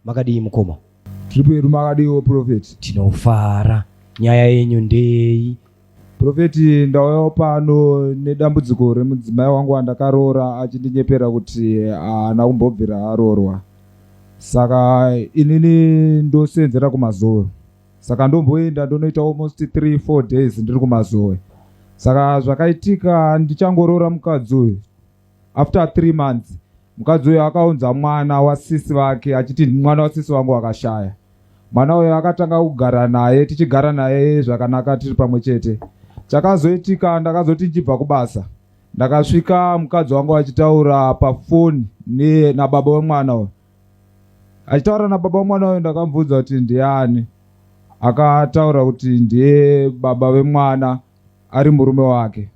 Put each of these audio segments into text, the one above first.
makadii mukoma tiri pedu makadiiwo profeti tinofara nyaya yenyu ndei profeti ndauyawo pano nedambudziko remudzimai wangu wandakaroora achindinyepera kuti haana kumbobvira aroorwa saka inini ndoseenzera kumazowe saka ndomboenda ndonoita almost 3 4 days ndiri kumazoe saka zvakaitika ndichangoroora mukadzi uyu after 3 months mukadzi uyu akaunza mwana wasisi vake achiti mwana wasisi vangu akashaya mwana uyo akatanga kugara naye tichigara naye zvakanaka tiri pamwe chete chakazoitika ndakazoti ndichibva kubasa ndakasvika mukadzi wangu achitaura pafoni nababa wemwana uyo achitaura nababa wemwana uyo ndakamubvunza kuti ndiani akataura kuti ndiye baba vemwana ari murume wake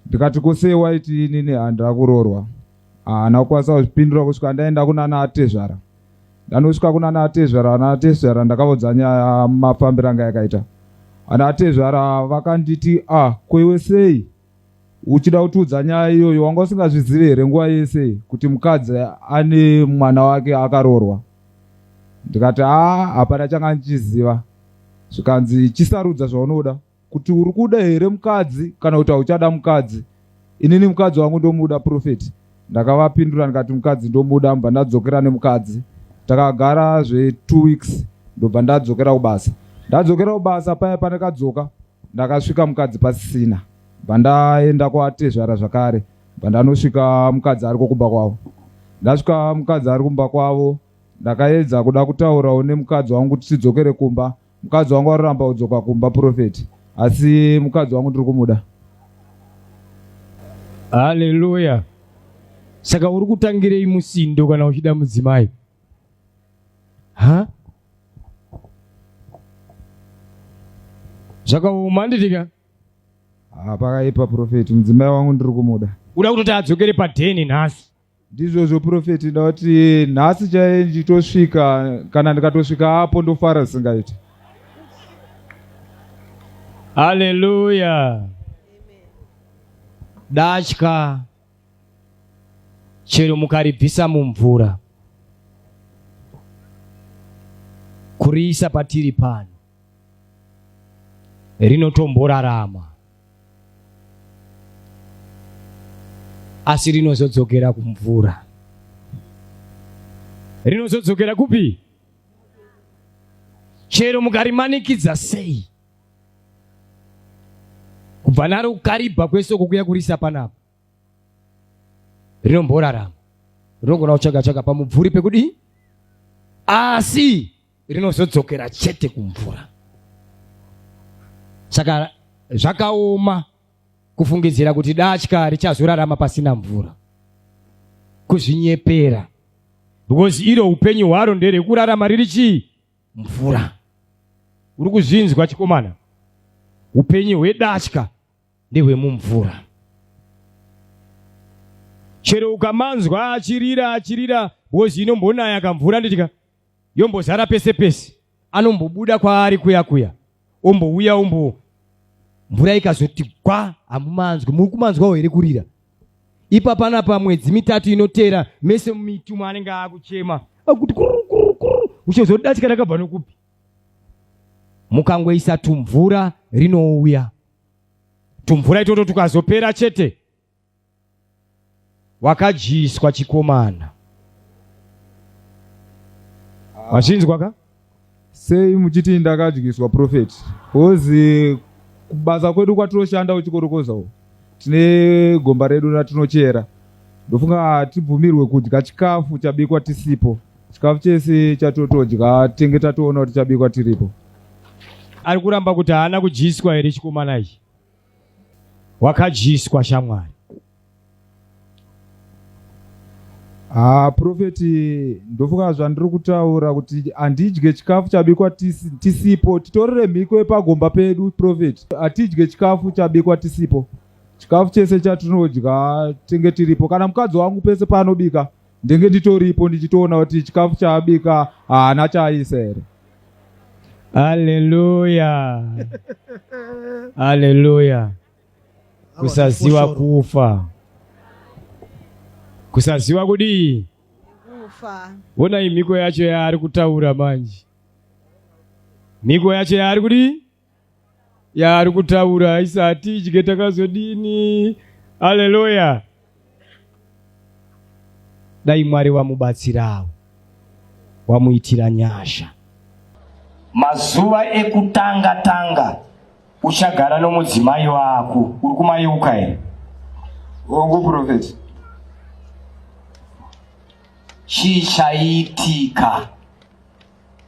ndikati kosei waiti inini handira kurorwa haana kukwanisa kuzvipindura kusvika ndaenda kunana atezvara ndanosvika kunana atezvara ana atezvara ndakavudza nyaya mafambiro anga yakaita ana atezvara vakanditi a ah, kwewe sei uchida kutiudza nyaya iyoyo wanga usingazvizive here nguva yese kuti mukadzi ane mwana wake akaroorwa ndikati haa hapana changa ndichiziva zvikanzi chisarudza zvaunoda kuti uri kuda here mukadzi kana kuti hauchada mukadzi inini mukadzi wangu ndomuda profeti ndakavapindura ndikati mukadzi ndomuda mba ndadzokera nemukadzi takagara zvetwo weeks ndobva ndadzokera kubasa ndadzokera kubasa paya pandakadzoka ndakasvika mukadzi pasisina bandaenda kwatezvara zvakare bandanosvika mukadzi ariko kumba kwavo ndasvika mukadzi ari kumba kwavo ndakaedza kuda kutaurawo nemukadzi wangu kuti tidzokere kumba mukadzi wangu aroramba kudzoka kumba profeti asi mukadzi wangu ndiri kumuda haleluya saka uri kutangirei musindo kana uchida mudzimai ha zvakaoma handitika ah, pakaipa profeti mudzimai wangu ndiri kumuda uda kutoti adzokere padheni nhasi ndizvozvo profeti ndauti nhasi chaiye ndichitosvika kana ndikatosvika apo ndofara zvisingaiti haleluya datya chero mukaribvisa mumvura kuriisa patiri pano rinotomborarama asi rinozodzokera kumvura rinozodzokera kupi chero mukarimanikidza sei kubva naro kukaribha kwese uko kuya kurisa panapa rinomborarama rinogona kutsvaga tsvaga pamubvuri pekudii asi rinozodzokera chete kumvura saka zvakaoma kufungidzira kuti datya richazorarama pasina mvura kuzvinyepera because iro upenyu hwaro nderekurarama riri chii mvura. Uri kuzvinzwa chikomana? Upenyu hwedatya ndehwemumvura. Chero ukamanzwa achirira achirira hozi inombonaya kamvura nditika yombozara pese pese anombobuda kwaari kuya kuya ombouya ombo mvura ikazoti gwa hamumanzwi muri kumanzwawo here kurira ipa pana pamwedzi mitatu inotera mese mitumo anenge akuchema akuti kurukurukuru uchozodatika rakabva nokupi mukangoisa tumvura rinouya tumvura itoto tukazopera chete wakadyiswa chikomana wachinzwa ka sei muchiti ndakadyiswa prophet bcause kubasa kwedu kwatinoshanda uchikorokoza u tine gomba redu ratinochera ndofunga hatibvumirwe kudya chikafu chabikwa tisipo chikafu chese chatotodya tenge tatoona kuti chabikwa tiripo ari kuramba kuti haana kudyiswa here chikomana ichi wakadyiswa shamwari Ah, profeti ndofunga zvandiri kutaura kuti handidye chikafu chabikwa tisipo titorere mhiko yepagomba pedu profeti hatidye chikafu chabikwa tisipo chikafu chese chatinodya tenge tiripo kana mukadzi wangu pese paanobika ndenge nditoripo ndichitoona kuti chikafu chaabika haana chaisa here haleluya haleluya kusaziwa kufa kusaziwa kudii kufa vonai mhiko yacho yaari kutaura manje mhiko yacho yaari kudii yaari kutaura isati idye takazodini haleluya dai mwari wamubatsirawo wamuitira nyasha mazuva ekutanga tanga uchagara nomudzimai wako uri kumayeuka here hongu profeti chii chaitika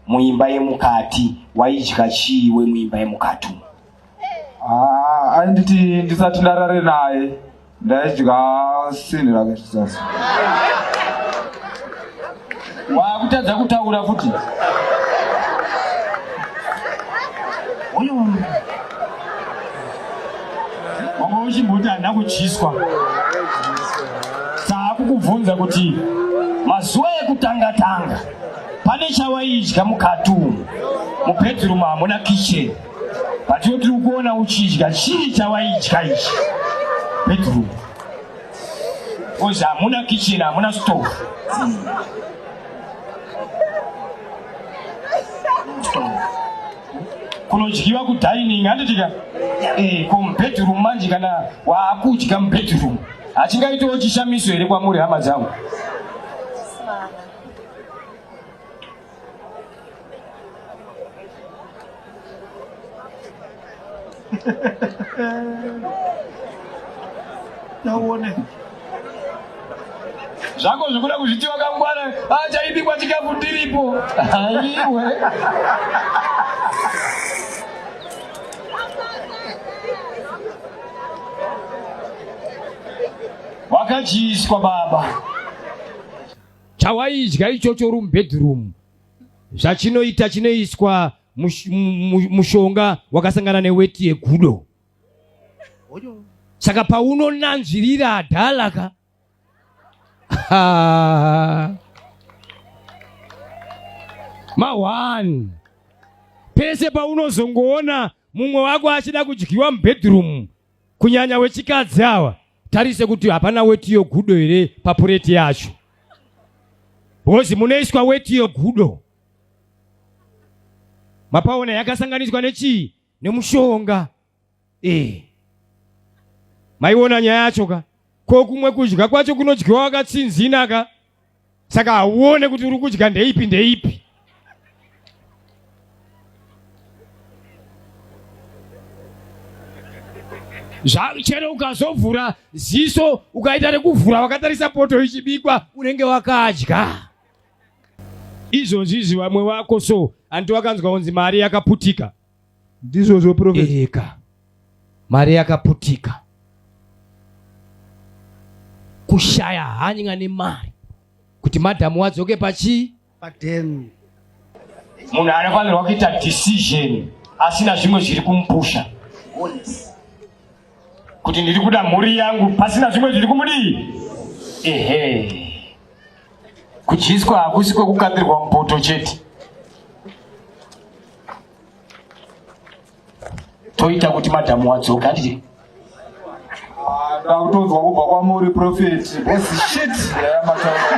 muimba yemukati waidya chii we muimba yemukati umu ah, ainditi ndisati ndarare naye ndaidya sinhi rake zvisasi wakutadza kutaura futi uyu wanga uchimboti handina kutyiswa saakukubvunza kuti mazuva ekutanga tanga pane chawaidya mukati umu mubedroom hamuna kitchen but yo tiri kuona uchidya chii chawaidya ichi bedroom because hamuna kitchen hamuna stove kunodyiwa kudining handitika eh, ko mubedroom manje kana waakudya mubedroom hachingaitawo chishamiso here kwamuri hama dzangu nauone zvako zvikuda kuzviti wakangwara achaibikwa ah, chikafu ndiripo aiwe wakachiiswa baba Chawaidya ichocho uri mubedroom, zvachinoita chinoiswa mushonga wakasangana neweti yegudo. Saka paunonanzvirira adhalaka ma one pese paunozongoona mumwe wako achida kudyiwa mubedroom kunyanya wechikadzi awa tarise kuti hapana weti yogudo here papureti yacho bhozi munoiswa weti yogudo mapaona yakasanganiswa nechii nemushonga e maiona nyaya yacho ka ko kumwe kudya kwacho kunodyiwa wakatsinzina ka saka hauone kuti uri kudya ndeipi ndeipi chero ukazovhura ziso ukaita rekuvhura wakatarisa poto ichibikwa unenge wakadya izvozvizvi vamwe vako so hanti wakanzwa kunzi mari yakaputika ndizvozvo profetika mari yakaputika kushaya hanya nemari kuti madhamu wadzoke pachii padhemu munhu anofanirwa kuita decision asina zvimwe zviri kumupusha kuti ndiri kuda mhuri yangu pasina zvimwe zviri kumudii ehe kudyiswa hakusi kwekukapirwa mupoto chete toita kuti madhamu wadzoka ndii ndakutonzwa kubva kwamuri profeti bcshit yamataura